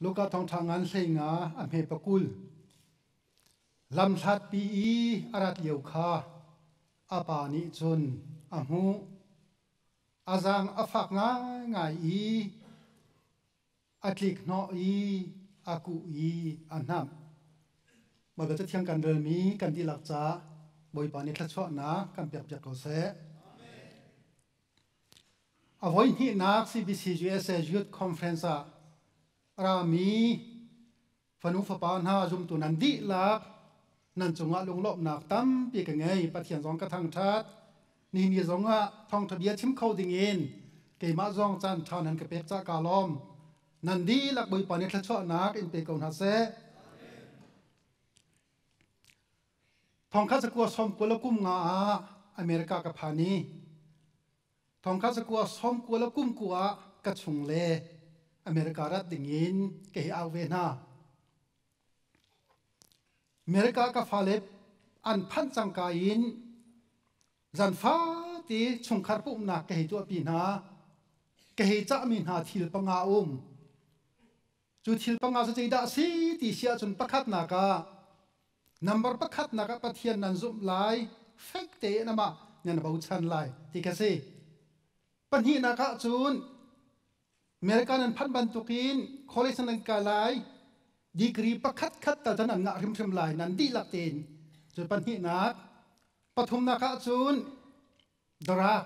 Luka thawngṭha ngan hleinga a hme pakul. Lam hlatpi i a rat lio kha a pa nih cun a hmuh. A zaang a fak ngaingai i a tlikhnawh i a kuh i a hnamh. Bawipa Cathiang kan relmi kan dihlak ca Bawipa nih thluachuahnak kan pekpiak ko seh. A voihnihnak CBC-USA Youth Conference ah a rami fanu fapa hna zumtu nan dihlak nan cungah lunglawmhnak tampi ka ngei. Pathian zong ka thangṭhat. Nihin ni zongah thawngṭha bia chim kho dingin keimah zong caan ṭha nan ka pek cah kaa lawm. Nan dihlak Bawipa nih thluachuahnak in pe ko hna seh. Thongkhat sakua som kual a kum nga ah America ka phan i thongkhat sakua som kual a kum ku ah ka chung le America rat ding in ka hi au ve hna. America ka fale an phanh cangka in zan fa ti chungkhar pumhnak ka hei tuahpi hna ka hei cahmi hna thil panga um Cu thil panga cu zeidah a si ti si ahcun pakhatnak ah number pakhatnak ah Pathian nan zumh lai fek tein amah nan bochan lai ti ka si. Pahnihnak ah cun America nan phanh bantuk in college nan kai lai degree pakhatkhat tal tan an ngah hrimhrim lai nan dihlak tein cu pahnihnak pathumnak ah cun drug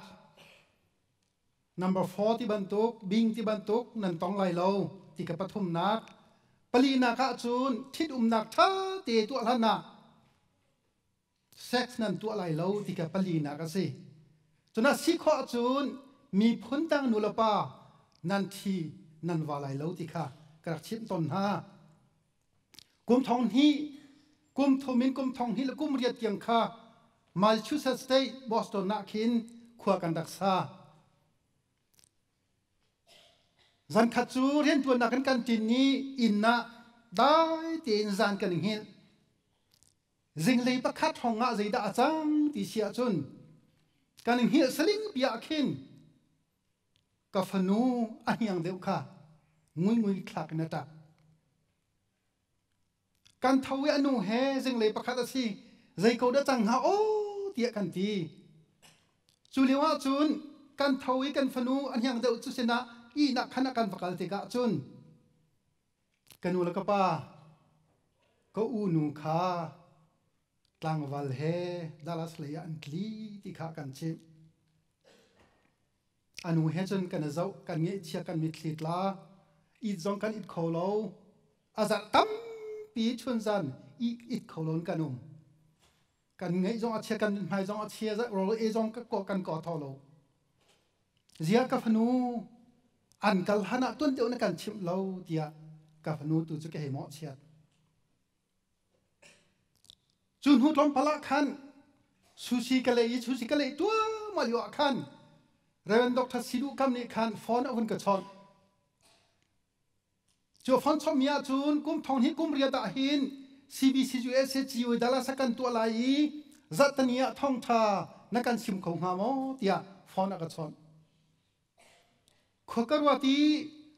Number four ti bantuk bing ti bantuk nan tong lai lo ti ka pathumnak palinak ah cun thit umnak ṭha te tuah hlan ah sex nan tuah lai lo ti ka palinak a si cuna si khawh cun miphun dang nu le pa nan thi nan va lai lo ti kha ka rak chimh ton hna kum thong hnih kum thum in kum thong hnih le kum riat tiang kha Massachusetts State Boston ah khin khua kan rak sa zankhat cu riantuannak kan kan tin ni inn ah dai tein zan kan hngilh zinglei pakhat hong ah zeidah a cang ti si ahcun kan hngilh saling pi ah khin Ka fanu a hniang deuh kha nguingui thlak in a ṭah. Kan tho i a nu he zinglei pakhat a si, zei ko dah cang hnga aw tiah kan ti. Cu lio ah cun kan tho i kan fanu a hniang deuh cu sinah ihnak khan a kan va kal tikah cun Ka nu le ka pa, ka u nu kha tlangval he Dallas lei ah an tli ti kha kan chimh. A nu he cun kan i zoh, kan ngeihchia, kan mitthli tla. It zong kan it kho lo. A zarh tampi chun zan it, it kho loin kan um. kan ngeih zong a chia kan mit hmai zong a chia rawl e zong ka kan ko tho lo zia ka fanu an kal han ah tuan teo na kan chim lo tiah ka fanu tu cu ke hei mo chiat cu hnu tlom pala khan sushi ka lei i sushi ka lei tua ma liwa khan Reverend Dr. Sidu Kam nih khan phone a vun ka chawt Cu a fang chommi ahcun kum thong hnih kum riat ah hin CBCUSA Ciwe Dallas a kan tuah lai i zahtani ah thawngṭha na kan chim kho hnga maw tiah phone a ka chawnh. Khua ka ruat i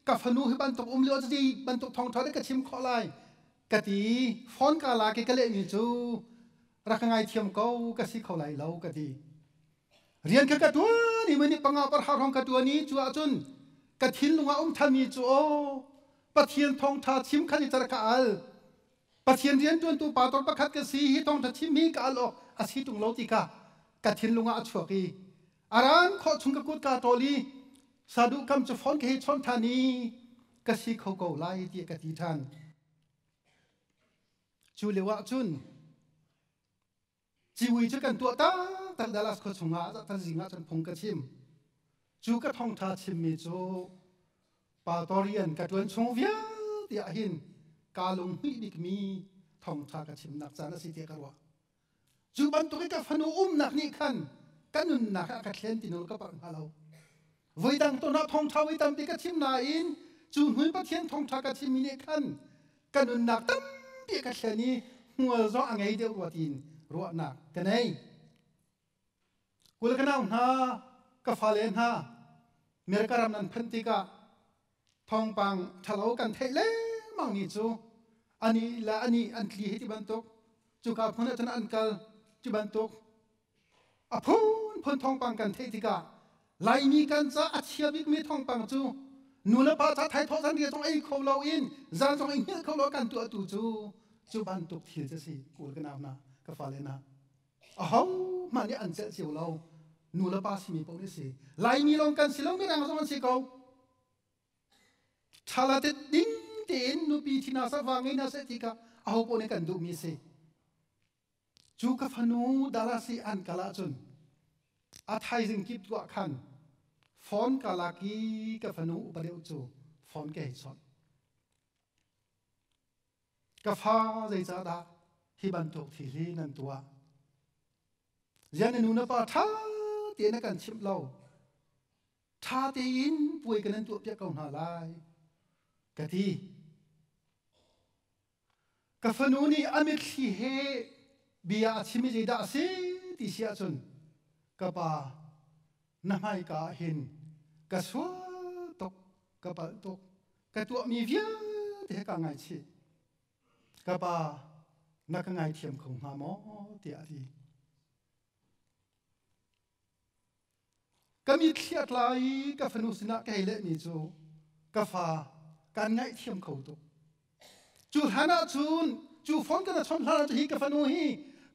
ka fanu hi bantuk um lio cacei bantuk thawngṭha dek ka chim khawh lai ka ti i phone ka lak i ka lehmi cu rak ka ngaithiam ko ka si kho lai lo ka ti. rian kha ka tuan i nih panga par har hong ka tuan i cu ahcun ka thinlung ah um thanmi cu aw Pathian thawngtha chim khan i cer ka al Pathian riantuantu pa tor pakhat ka si hi thawngtha chim hi ka al awk a si tung lo ti kha ka thinlung ah a chuak i a ran khawh chung ka kut ka ṭol i saduhkam cu phone ka hi chon ṭhan i ka si kho ko lai ti ka ti ṭhan cu leu ah cun Ciwi cu kan tuah taktak Dallas khua chungah taktak zing ah cun phung ka chim. Cu ka thongtha chimmi cu Patorian ka tuan chung vialte ah hin kaa lunghnih bikmi thongtha ka chimnak caan a si tiah ka ruah. Cu bantuk i ka fanu umnak nih khan ka nunnak ah ka thlen ti nawl ka palh hna lo. voidang tu hna thawngṭha voi tampi ka thim nain cu hnu Pathian thawngṭha ka thimmi nih khan ka nunnak tampi ka thlen i hmual zong a ngei deuh rua tiin ruahnak ka nei. Kul ka nau hna, ka fale hna, mer ka ram nan phanh tikah thawngpang ṭhalo kan theih lengmang ni cu ani le ani an tli hei ti bantuk cuka hmun ah cun an kal cu bantuk A phunphun thawngpang kan theih tikah Laimi kan ca a chia bikmi thawngpang cu nu le pa ca thaithawh zan ria zong ei kho lo in zan zong ei hngilh kho lo kan tuahtu cu cu bantuk thil cu si kawl ka nau hna ka fale hna aho hmanh nih an celh cio lo nu le pa simi paoh nih si Laimi lawng kan si lo mirang zong an si ko thalatet ding tein nupi thina sa va ngei na seh ti kha aho paoh nih kan duhmi si Cu ka fanu Darasi an kal ahcun a thaizing kip tuah khan phone ka lak i ka fanu upa deuh cu phone ka hei chawnh. Ka fa zeicah dah hi bantuk thili nan tuah? Zian na nunafa ṭha tein a kan chimh lo. Ṭha tein puai ka nan tuahpiak ko hna lai, ka ti. Ka fanu nih a mitthli he bia a chim i zeidah a si ti si ahcun ka pa na hmaika ah hin ka sual tuk ka palh tuk ka tuahmi vialte hi kaa ngaichih ka pa na ka ngaithiam kho hnga maw tiah a ti. Kan i thliat lai i ka fanu sinah ka hei lehmi cu, ka fa, kan ngaihthiam kho tuk. Cu hlan ah cun, cu fon kan chawnh hlan ah cun hi ka fanu hi,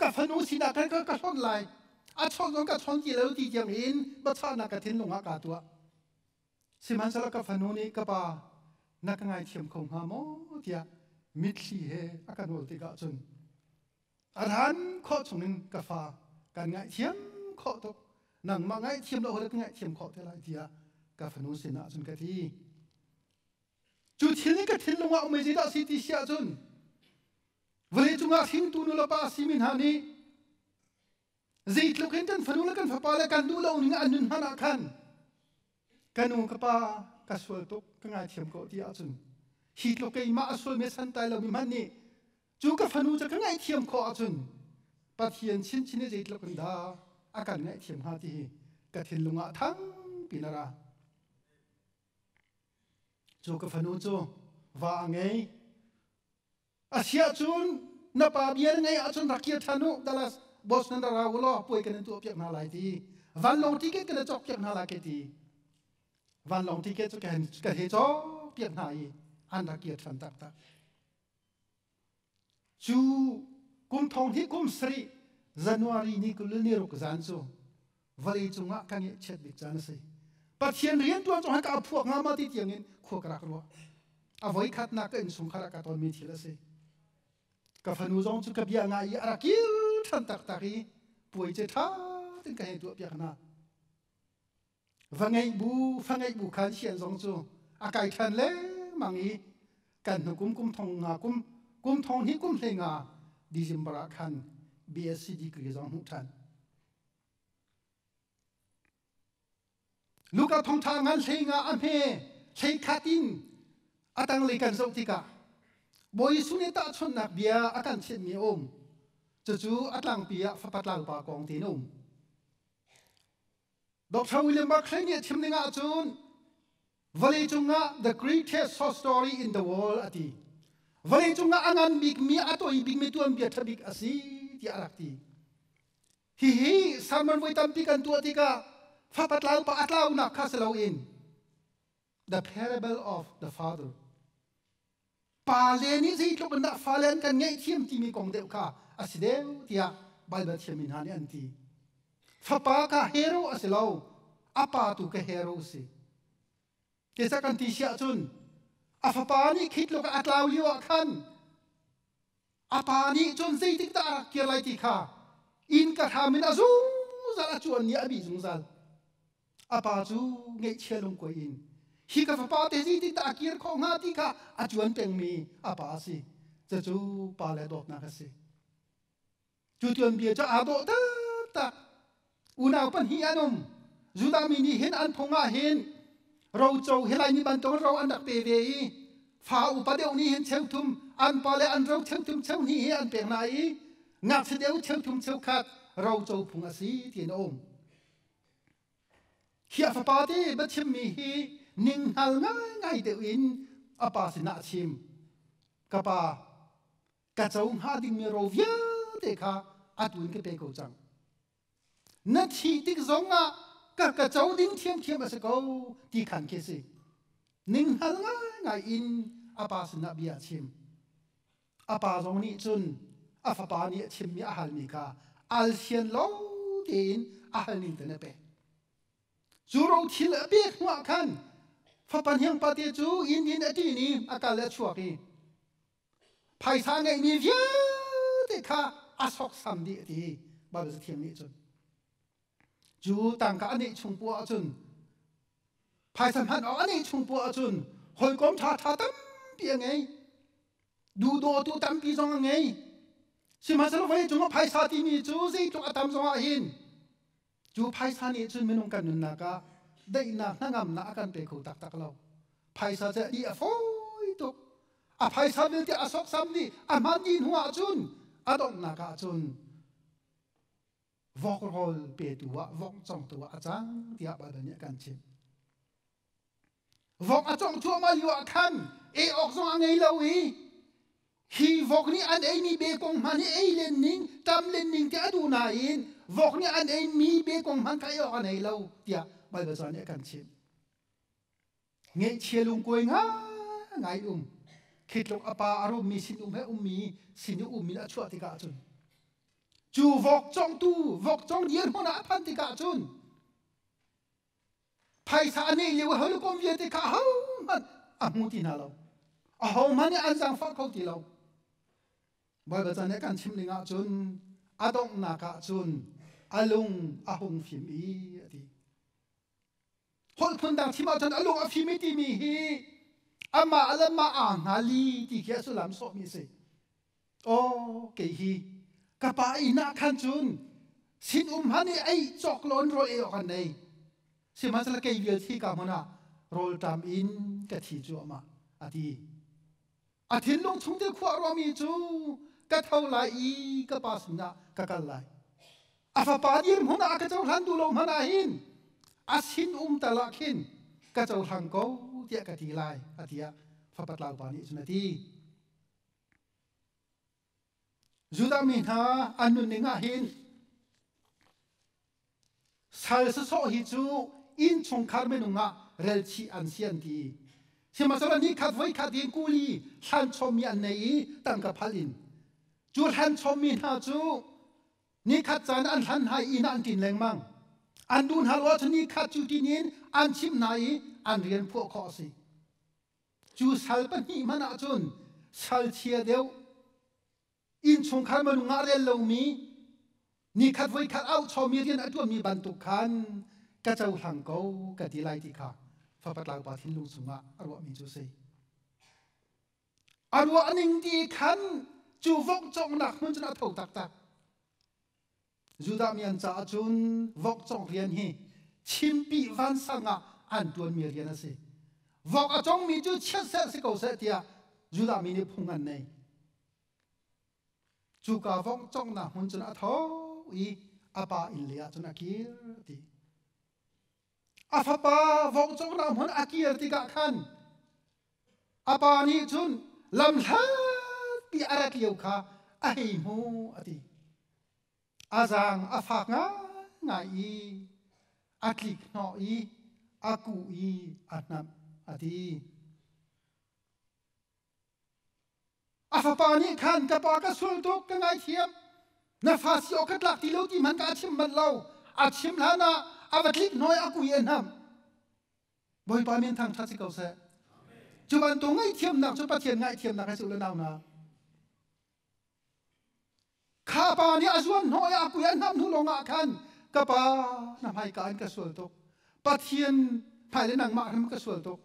ka fanu sinah khan ka, ka hlonh lai. A chawnh zong ka chawnh ti lo ti tiang in biachahnak ka thinlung ah kaa tuah. Sihmanhsehlaw ka fanu nih, ka pa, na ka ngaithiam kho hnga maw? tiah mitthli he a ka nawl tikah cun, a ran khawh chungin ka fa kan ngaihthiam khawh tuk nangmah ngaihthiam lo rat ngaihthiam khawh te lai tiah ka fanu sinah cun ka ti cu thil nih ka thinlung ah umei dah si ti si ahcun vawlei cungah hringtu nu le pa simi hna nih Zeitluk hin kan fanu le kan fapa le kan duh lo ning an nun hman ah khan ka nu ka pa ka sual tuk ka ngaithiam ko ti ahcun hi tluk keimah a sualmi santai lomi hmanh nih cu ka fanu cu ka ngaihthiam khawh ahcun Pathian chinchin i zeitluk in dah a kan ngaihthiam hnga ti hi ka thinlung ah thangpi na ra. Cu ka fanu cu va a ngei, A siah cun na pa bia na ngaih ahcun rak kir ṭhan u, Dallas boss nan ra ra u law puai kan in tuahpiak hna lai ti. Vanlawng ticket kan in cawkpiak hna lai ka ti. Vanlawng ticket cu ka he cawkpiak hna i an rak kir ṭhan taktak. Cu kum thong hi kum sarih January ni kul le ni ruk zan cu vawlei cungah ka ngeihchiat bik caan a si pathian rianṭuan cu haka phuak hnga ma ti tiangin khua ka rak ruah a voi khatnak ka innchungkhar ah ka tonmi thil a si ka fanu zong cu ka bia nga i a rak kil ṭhan taktak i puai ce ṭha tin ka hei tuah piak hna va ngeih bu fa ngeih bu khan hian zong cu a kai ṭhan lemang i kan hnu kum kum thong nga kum kum thong hi kum hlei nga December ah khan BSc degree zong hmuh ṭhan Nuka thongtha ngan hleng ah a hme hlei khat in a tanglei kan zoh tikah Bawi Jesuh nih tahchunhnak bia a kan thianhmi a um. Cucu a tlangpi ah fapa tlangpa kong tin um. Dr. William Barclay nih a chim ning ahcun Vawleicung ah The Greatest Short Story in the World a ti. Vawleicung ah a ngan bikmi, a toi bikmi tuanbia ṭha bik a si tiah a rak ti. Hihi sermon voi tampi kan tuah tikah fapatlau pa a tlaunak kha si loin the parable of the father pale nih zeitluk in dah fale an kan ngaihthiam timi kong deuh kha a si deuh tiah Baibal thiammi hna nih an ti. Fapa ka hero a si lo, a pa tu ka hero si. Kesa kan ti si ahcun a fapa nih khi tluk a tlau lio ah khan a pa nih cun zeitikdah a rak kir lai ti kha innka hram in a zungzal a cuan i a bih zungzal a pa cu ngeihchia lungkuai in hi ka fapa te zeitikdah a kir khawh hnga ti kha a cuan pengmi a pa a si cucu pa le dawtnak a si cu tuanbia cu aa dawh taktak unau pahnih an um Judah mi nih hin an phung ah hin roco hi lai ni bantukin ro an rak pe ve i fa upa deuh nih hin cheuthum an pa le an ro cheuthum cheu hnih hi an pek hna i ngakchia deuh cheuthum cheu khat roco phung a si tiin a um khi a fapa te va chimmi hi ninghngal ngaingai deuh in a pa sinah a chim ka pa ka co hnga dingmi ro vialte kha atu in ka pe ko cang na thih tik zongah ka ka co ding thiamthiam a si ko ti khan khi si ninghnal ngaingai in a pa sinah bia a chim a pa zong nih cun a fapa nih a chimmi a halmi kha alsian lo tein a hal ning te na pe cu ro thil a pek hnuah khan fapan hiang pate cu inn in a ṭin i a kal a chuak i Phaisa ngeihmi vialte kha a soksam dih a ti. Baibal Cathiang nih cun. Cu tangka a neih chung puah cun phaisa hman awk a neih chung puah cun hawikom ṭhaṭha tampi a ngei. Duhdawtu tampi zong a ngei. Sihmanhsehlaw vawleicung ah phaisa timi cu zeitluk a tam zongah hin Cu phaisa nih cun minung kan nunnak ah daihnak hnangamnak a kan pe kho taktak lo. Phaisa cu a ni a fawi tuk. A phaisa vialte a soksam nih a hman ni hnu ahcun a donghnak ahcun vok rawl petu ah vok congtu ah a cang tiah Baibal nih a kan chimh. Vok a cong thluahmah lio ah khan ei awk zong a ngei lo i hi vok nih an eimi bekong hmanh hi ei len ning tam len ning te a duh nain vok nih an eimi bekong hmanh kha ei awk a nei lo tiah Baibal caan nih a kan chimh. Ngeihchia lungkuai ngai um khi tluk a pa a rummi sinum he ummi sinu um in a chuah tikah cun cu vok congtu vok cong dirhmun ah a phan tikah cun Phaisa a neih lio ho le kom vialte kha ahohmanh a hmu ti hna lo. Ahohmanh nih an zaangfah kho ti lo. Bawipa chan nih kan chim ning ah cun a donghnak ah cun a lung a hung fim i a ti. Holh phun dang thim ahcun a lung a fim i timi hi amah le mah aa hna li ti khi a sullam sawhmi a si. Aw, kei hi ka pa inn ah khan cun sinum han i ei cawk loin rawl ei awk an ei. Sihmanhsehlaw kei vial thi ka hmun ah rawlṭam in ka thi cuahmah, a ti. A thinlung chung thil khuah ruangmi cu ka tho lai i ka pa sinah ka kal lai. A fapa dirhmun ah ka cohlan duh lo hmanh ah hin a sinum tal ah khin ka cohlang ko tiah ka ti lai, a tiah fapa tlau pa nih cun a ti. Judah mi hna an nunning ah hin sal sasawh hi cu inn chungkhar minung ah relchih an si an ti sihmahsawhla ni khat voi khat in kuli thlanchom mi an nei i tangka phal in cu thlanchom mi hna cu ni khat caan an hlan hna inn ah an ṭin lengmang an duh hna lo ahcun ni khat cu ṭin in an chimh hna i an rian phuah khawh a si Cu sal pahnih hmanh ah cun salchia deuh, innchungkhar minung ah rel lomi, nikhat voikhat auhchomi rian a ṭuanmi bantuk khan ka cohlang ko ka ti lai ti kha fapatlaungpa thinlung chungah a ruahmi cu a si. A ruah ning ti khan cu vokcawknak hmun cun a tho taktak. Judah mi an caah cun vok cong rian hi chimpi vansang ah an ṭuanmi rian a si. Vok a congmi cu chiat seh si ko seh tiah Judah mi nih phung an nei. Cuka vok congnak hmun cun a tho i a pa inn leiah cun a kir ti. A fapa vong cung rahmun a kir tikah khan a pa nih cun lam hlatpi a rak lio kha a hei hmu a ti. A zaang a fak ngaingai i a tlik hnawh i a kuh i a hnamh a ti. A fapa nih khan ka pa ka sul tuk ka ngaithiam na fa si awk ka tlak ti lo ti hmanh ka a chim manh lo a chim hlan ah a va tlik hnuai a kui an ham bawipa min thang ṭhat si ko seh cu bantuk ngaihthiamnak cu pathian ngaihthiamnak he sul le nau na kha pa nih a zuan hnawh i a kui an ham hnu lawng ah khan ka pa na hmaika in ka sual tuk pathian hmai le nangmah khan ka sual tuk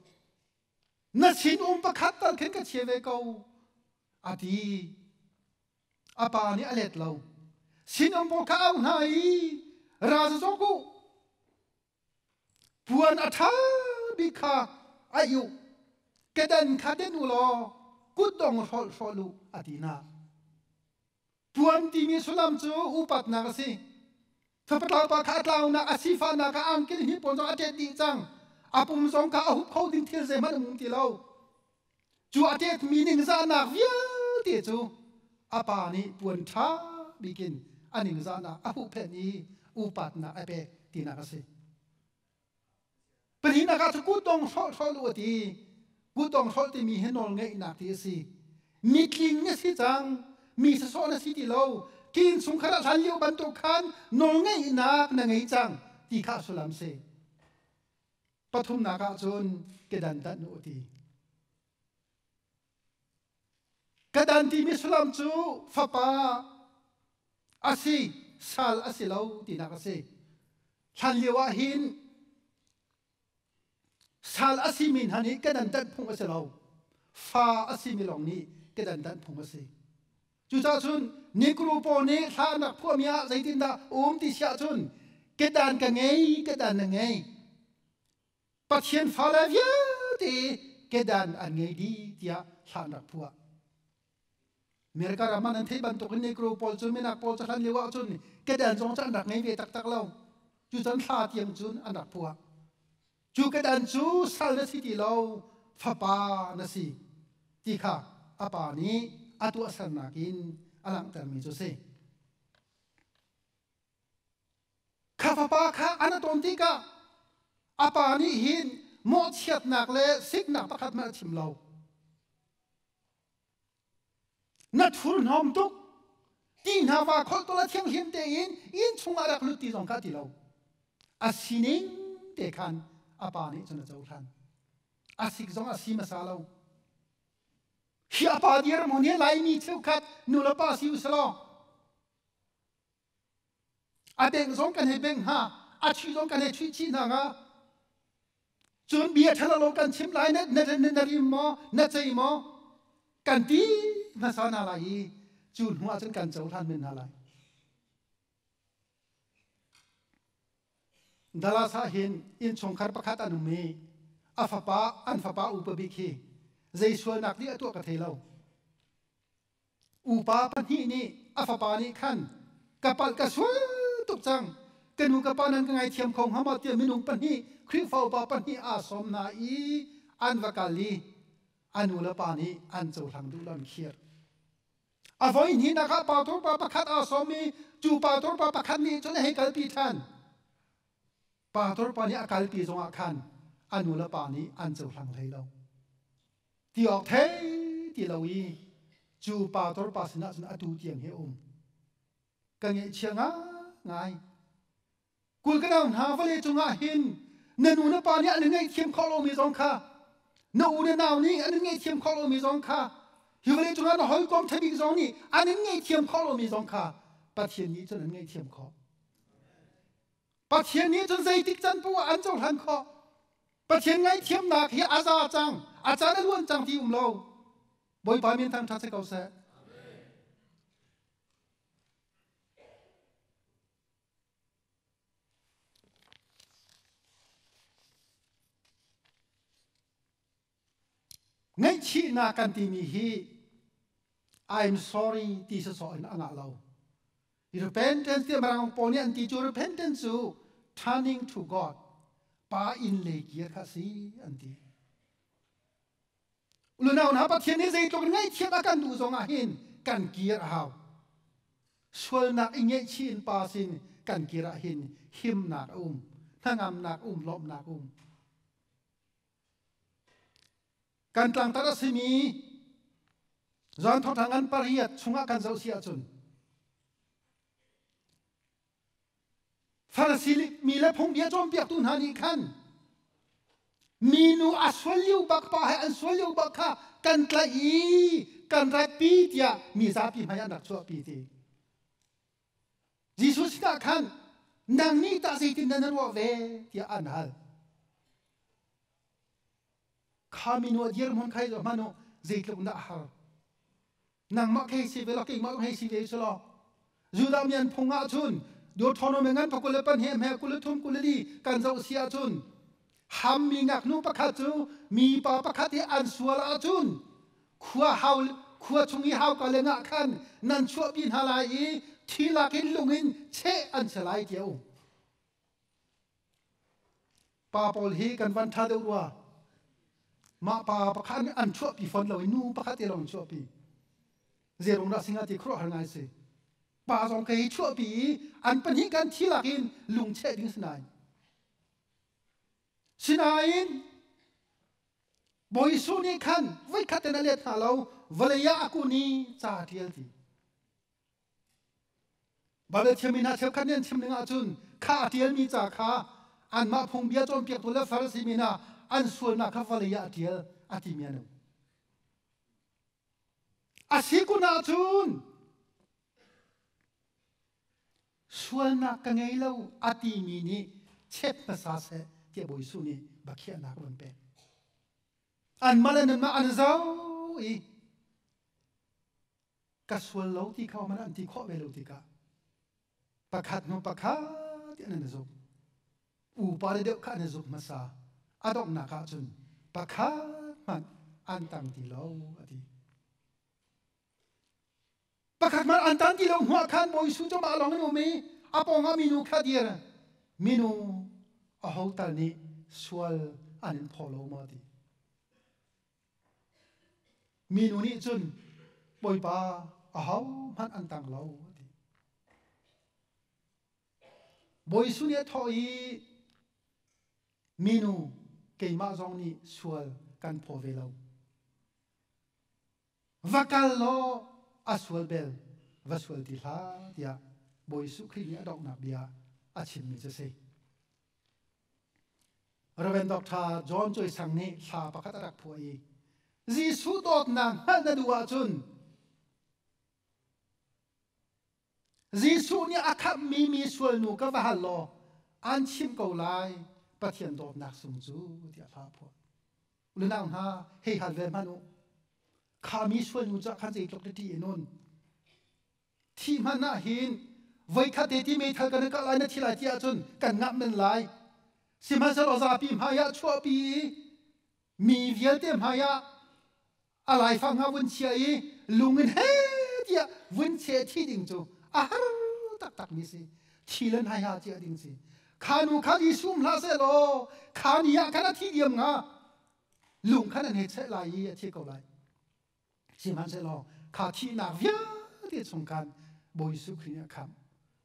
na sinum pakhat tal khin ka chia ve ko a ti a pa nih a let lo sinum pawl ka au hna i raza cawk u puan a ṭha bik kha a iu kedan kha den u law kutdong hrolh hrol u a ti hna Puan timi sullam cu upatnak a si. Thlapataupa kha a tlaunak a sifahnak ah angkin hi pawn zong a ṭet dih cang. A pum zong kha a hup kho ding thil zeihmanh um ti lo. Cu a ṭetmi ningzahnak vialte cu a pa nih puan ṭha bikin a ningzahnak a huhphenh i upatnak a pek tinak a si. Pahnihnak ah cu kutdong hrolh hrolh u a ti. Kutdong hrolh timi hi nawl ngeihnak ti a si. Mi tling a si cang. Mi sasawh na si ti lo. Tiin chungkhar ah hlan lio bantuk khan nawl ngeihnak na ngei cang ti kha sullam si. Pathumnak ah cun kedan tanh u ti. Ka dan timi sullam cu fapa a si sal a si lo tinak a si. Hlan lio ah hin sal a si mi hna nih kedan tanh phung a si lo. Fa a si mi lawng nih kedan tanh phung a si. Cucaah cun nikru paw nih hla nak phuami ah zeitindah um ti siah cun kedan ka ngei kedan na ngei Pathian fale vialte kedan an ngei dih tiah hla an rak phuah. America ram an thei bantuk in Negro pawl cu minak pawl cu hlan lio ah cun kedan zong cu an rak ngei ve taktak lo. Cu cun hla tiang cun an rak phuah. Cu kedan cu sal na si ti lo fapa na si ti kha a pa nih a tuahsernak in a langhtermi cu a si. Kha fapa kha an atuan tikah a pa nih hin mawhchiatnak le siknak pakhat hmanh a chim lo. Na thurhnawm tuk ti hna va kholhtawl a thianghlim tein inn chungah rak lut ti zong kha ti lo a sining te khan a pa nih cun a cohlan a sik zong a si hmasa lo hi a pa dir maw ne laimi cheukhat nu le pa si u selaw A deng zong kan hei beng hna, a chi zong kan hei chuih chih hna nga. Cun bia ṭhalo lo kan chim lai na, na, na, na rim maw, na cei maw? Kan ti hmasa hna lai i cu hnuah cun kan cohlan men hna lai. Dalas ah hin innchungkhar pakhat an um i a fapa an fapa upa bik hi zei sualnak nih a tuah ka thei lo. Upa pahnih nih a fapa nih khan ka palh ka sual tuk cang ka nu ka pa nan ka ngaithiam kho hnga maw tiah minung pahnih Khrihfa upa pahnih aa sawm hna i an va kal i a nu le pa nih an cohlang duh lo an khir a voihnihnak ah pa turpa pakhat aa sawm i cu pa turpa pakhat nih cun a hei kalpi ṭhan Pa Tor pa nih a kal te zongah khan a nu le pa nih an cohlang hlei lo. Ti awk thei ti lo i cu pa Tor pa sinah cun atu tiang hi a um. Ka ngeihchia ngai. Kul ka dang hna vale cungah hin na nu na pa nih an in ngaihthiam khawh lomi zong kha na u le nau nih an in ngaihthiam khawh lomi zong kha hi vale cungah na hawikom ṭha bik zong nih an in ngaihthiam khawh lomi zong kha Pathian nih cun an ngaihthiam khawh. Pathian nih cun zeitik can pu ah an cohlan khawh. Pathian ngaihthiamnak hi a za cang, a can a luan cang ti um lo. Bawipa min thangṭhat si ko seh. Ngaihchihnak kan timi hi I'm sorry ti sawsawh in a ngah lo. Repentance ti mirang pawl nih an ti cu repentance cu turning to God pa in le kir kha si an ti. Ulunau hna Pathian nih zeitluk in ngaihthiam a kan duh zong ah hin kan kir a hau. Sualnak i ngeihchih in pa sin kan kir ah hin himnak a um, hnangamnak um, lawmhnak um. kan tlangtar a simi John Thawng Thang an pariat chungah kan zoh si ahcun farasi mi le phungbia cawnpiaktu hna nih khan minu a sual lio bak pa he an sual lio bak kha kan tlaih i kan ratpi tiah mi zapi hmai an rak chuahpi ti Jesuh sinah khan nang nih tah zeitindah na ruah ve tiah an hal. Khami nu a dirhmun khai zo hmanu zeitluk na har. Nangmah kei si ve lo keimah um hei si ve su law. Judah mi an phung ah cun Deuteronomy ngan pa kul le pan he hme kul le thum kul le li kan zoh si ah cun Hammi ngaknu pakhat cu mipa pakhat i an sual ahcun khua, hau, khua chung i hauka le ngah khan nan chuahpi hna lai i thi lakin lung in cheh an si lai, ti a um. Pa pawl hi kan van ṭha deuh rua. Mah pa pakhat nih an chuahpi fawn lo i nu pakhat te lawng chuahpi. Zeirung dah singa ti khuaruahhar ngai si. Pa zong kei hi chuahpi i an pahnih kan thi lak in lung cheh ding si nain Sinain Bawi Jesuh nih khan voikhat in a let hna lo vawlei ah a kun i ca a ṭial ti. Baibal thiammi hna cheukhat nih an chim ning ahcun kha a ṭialmi ca kha anmah phungbia cawnpiaktu le Farasi min ah an sualnak kha vawlei ah a ṭial a timi an um. A si kun ahcun sualnak ka ngei lo a timi nih chet hmasa seh tiah Bawi Jesuh nih bakhiahnak a vun pek. Anmah le nanmah an zau i ka sual lo ti kha man an ti khawh ve lo tikah pakhat hnu pakhat in an i zumh. Upa le deuh kha an i zumh hmasa. A donghnak ah cun pakhat hmanh an tang ti lo a ti. Pakhatmah an tan ti lo hnuah khan Bawi Su cu mah lawng in um i a pawngah minu kha dir. Minu aho tal nih sual an in phaw lo ma ti. Minu nih cun Bawipa ahohmanh an tang lo a ti. Bawi Su nih a thawh i minu keimah zong nih sual kan phaw ve lo. va kal law a sual bel va sual ti hlah tiah Bawi Jesuh Khrih nih a donghnak bia a chimmi cu a si. Reverend Dr. John Choi Sang nih thla pakhat a rak phuah i Jesuh dawtnak hngalh na duh ahcun Jesuh nih a khamhmi mi sualnu ka va hal law aan chim ko lai Pathian dawtnak sung cu tiah a fah phuah. Nunau hna hei hal ve hmanh u. Kha mi sualnu cu khan zeitluk na ṭi i nun. Thi hmanh ah hin voikhat te ti meithal kan kalh lai na thi lai ti ahcun kan ngah men lai. Sihmanhsehlaw zapi hmaiah chuahpi i mi vialte hmaiah a laifang kha vun chiah i lung in he tiah vun cheh thi ding cu a har taktakmi si thi le nai ha chiah ding si kha nu khan i sum hlah seh law kha ni ah khan a thi diam nga lung khan an he cheh lai i a thi ko lai sihmanhsehlaw kha thihnak vialte chung khan Bawi Jesuh Khrih nih a khamh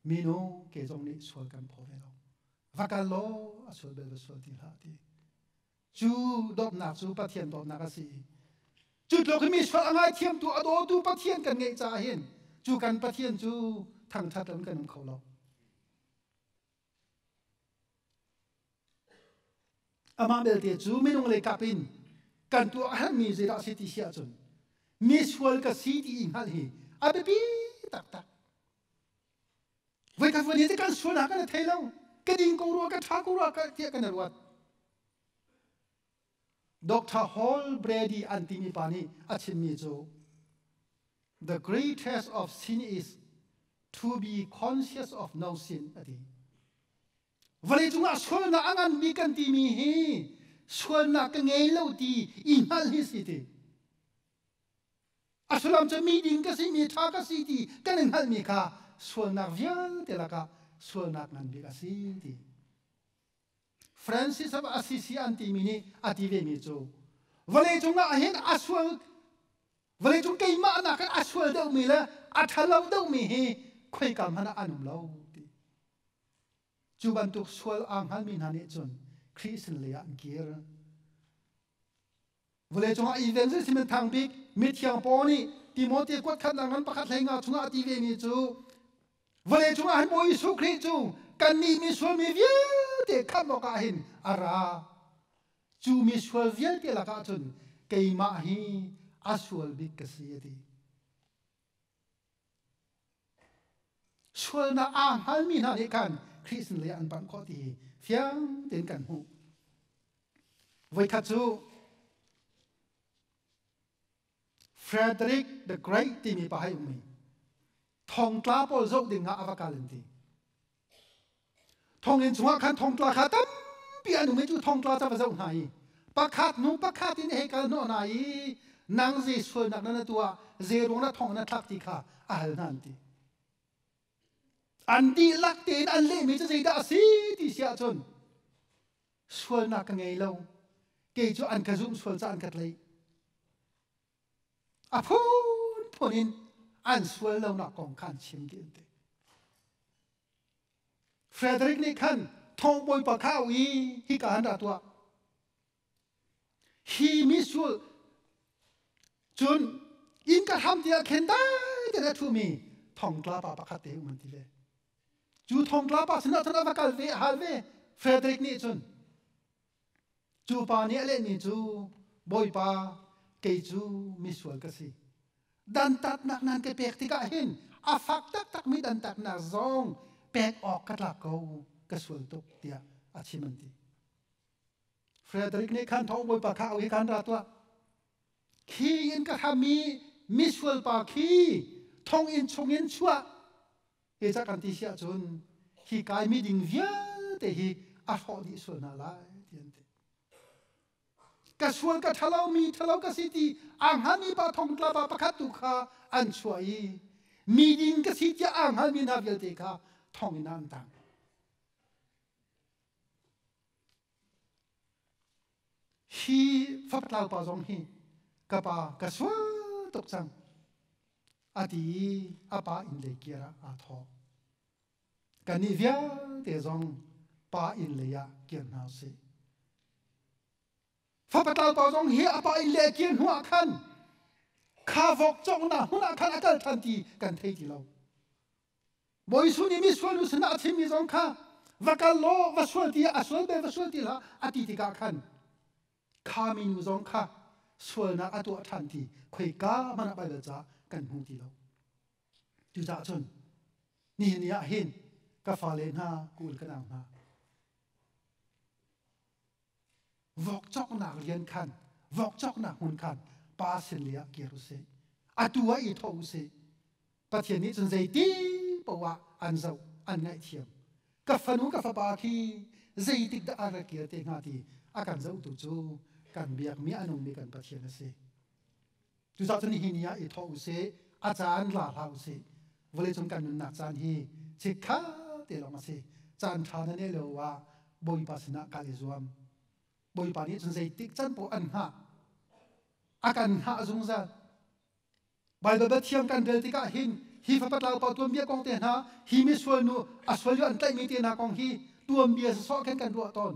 minu ke zong nih sual kan phaw ve lo va kal law a sual bel va sual ti hlah ti Cu dawtnak cu Pathian dawtnak a si i cu tluk in misual a ngaithiamtu, a dawtu Pathian kan ngeih caah hin cu kan Pathian cu thangṭhat in kan um kho lo. Amah belte cu minung le kap in kan tuah a herhmi zeidah a si ti si ahcun misual ka si ti i hngalh hi a biapi taktak. Voikhat voli te kan suan ah kan i thei lo. Ka ding ko rua, ka tha ko rua, tiah kan i ruat. Dr. Hall Brady an timi pa nih a chimmi cu The great test of sin is to be conscious of no sin a ti. Vawlei cungah sualnak a nganmi kan timi hi sualnak ka ngei lo ti i hngalh hi si ti. A sullam cu miding ka si, mi ṭha ka si ti kan in hngalhmi kha sualnak vialte lakah sualnak ngan bik a si ti. Francis of Assisi an timi nih a ti vemi cu vawleicung ah hin a sual vawleicung keimah nakin a sual deuhmi le a ṭhalo deuhmi hi khoika hmanh ah an um lo ti. Cu bantuk sual aa hngalmi hna nih cun Khrih sinlei ah an kir. vawlei cungah i len zei simen thang bik mithiang paul nih Timothea kuat khatnak ngan pakhat hlei nga chungah a ti ve mi cu vawlei cungah hin Bawi Jesuh Khrih cu kannih misual mi vialte khamh awkah hin a ra cu misual vialte lakah cun keimah hi a sual bik ka si a ti Sualnak aa hngalmi hna nih khan Khrih sinlei ah an panh khawh ti hi fiang tein kan hmuh. Voikhat cu Frederick the Great timi pa hei um i thongtla pawl zoh ding ah a va kal an ti. Thonginn chungah khan thongtla kha tampi an um i cu thongtla cu a va zoh hna i pakhat hnu pakhat in hei kal hnawh hna i nang zei sualnak na tuah zei ruang na thong na thlak ti kha a hal hna an ti an dihlak tein an lehmi cu zeidah a si ti si ahcun sualnak ka ngei lo kei cu an ka zumh sual ca an ka tlaih A phunphun in an sual lonak kong kha an chim dih an ti. Frederick nih khan thongbawi pa kha u i hika han ra tuah. Hi misual cun inn ka hram ti ah khin dai te a thumi thongtla pa pakhat te um an ti ve. Cu thongtla pa sinah cun a va kal ve a hal ve. Frederick nih cun Cu pa nih a lehmi cu, Bawipa, kei cu misual ka si. Dantatnak nan ka pek tikah hin a fak taktakmi dantatnak zong pek awk ka tlak ko, ka sual tuk tiah a chim an ti. Frederick nih khan thawng bawipa kha au i khan ra tuah. Khi in ka hram i misual pa khi thonginn chungin chuah te cak kan ti si ahcun hi kaimi ding vialte hi a hrawh dih sual hna lai ti an ti ka sual ka ṭhalo mi ṭhalo ka si ti a hngalmi pa thong tlapa pakhat tu kha an chuah i mi ding ka si tiah a hngalmi hna vialte kha thong in an tang hi faktlau pa zong hi ka pa ka sual tuk cang a ti i a pa inn lei kir ah aa thawk kannih vialte zong pa inn lei ah kir hna usih fapatal pa zong hi a pa inn le kir hnu ah khan kha vok cawknak hmun ah khan a kal ṭhan ti kan thei ti lo Bawi Suh nih misual nu sinah a chimmi zong kha va kal law va sual ti a sual be va sual ti hlah a ti tikah khan kha minu zong kha sualnak a tuah ṭhan ti khoika hmanh ah Baibal ca kan hmu ti lo. Cucaah cun nihin ni ah hin ka fale hna, kun ka nau hna, Vok cawknak rian khan, vok cawknak hmun khan pa sinle ah kir usih. Atu ah i tho usih. Pathian nih cun zeiti poah an zoh, an ngaihthiam. Ka fanu ka fapa khi zeitik dah an rak kir te hnga ti a kan zohtu cu kan biakmi a nungmi kan Pathian a si. Cucaah cun hi ni ah i thawh u sih, a caan la hlah u sih. Vawleicung kan nunnak caan hi chikkha te lawng a si. Caan ṭha na neh lio ah Bawipa sinah kal i zuam. Bawipa nih cun zeitik can poh an hngah. A kan hngah zungzal. Baibal Pathian kan rel tikah hin hi fapatlau pa tuanbia kong te hna, hi misual nu a sual yo an tlaihmi te hna kong hi tuanbia sasawh khin kan ruah tawn.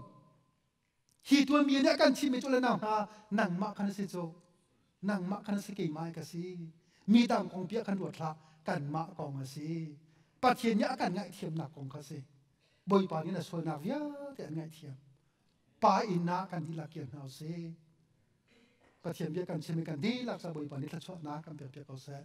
hi tuanmi nih kan thihmi cu le nau hna nangmah khan a si cu nangmah khan a si keimah ka si mi dang kong bia kan ruat hlah kanmah kong a si pathian nih a kan ngaihthiamnak kong kha si bawipa nih a sualnak vialte an ngaihthiam pa innak kan dihlak kir hna u sih pathian bia kan chim i kan dihlak sa bawipa nih thluachuahnak kan pek ko seh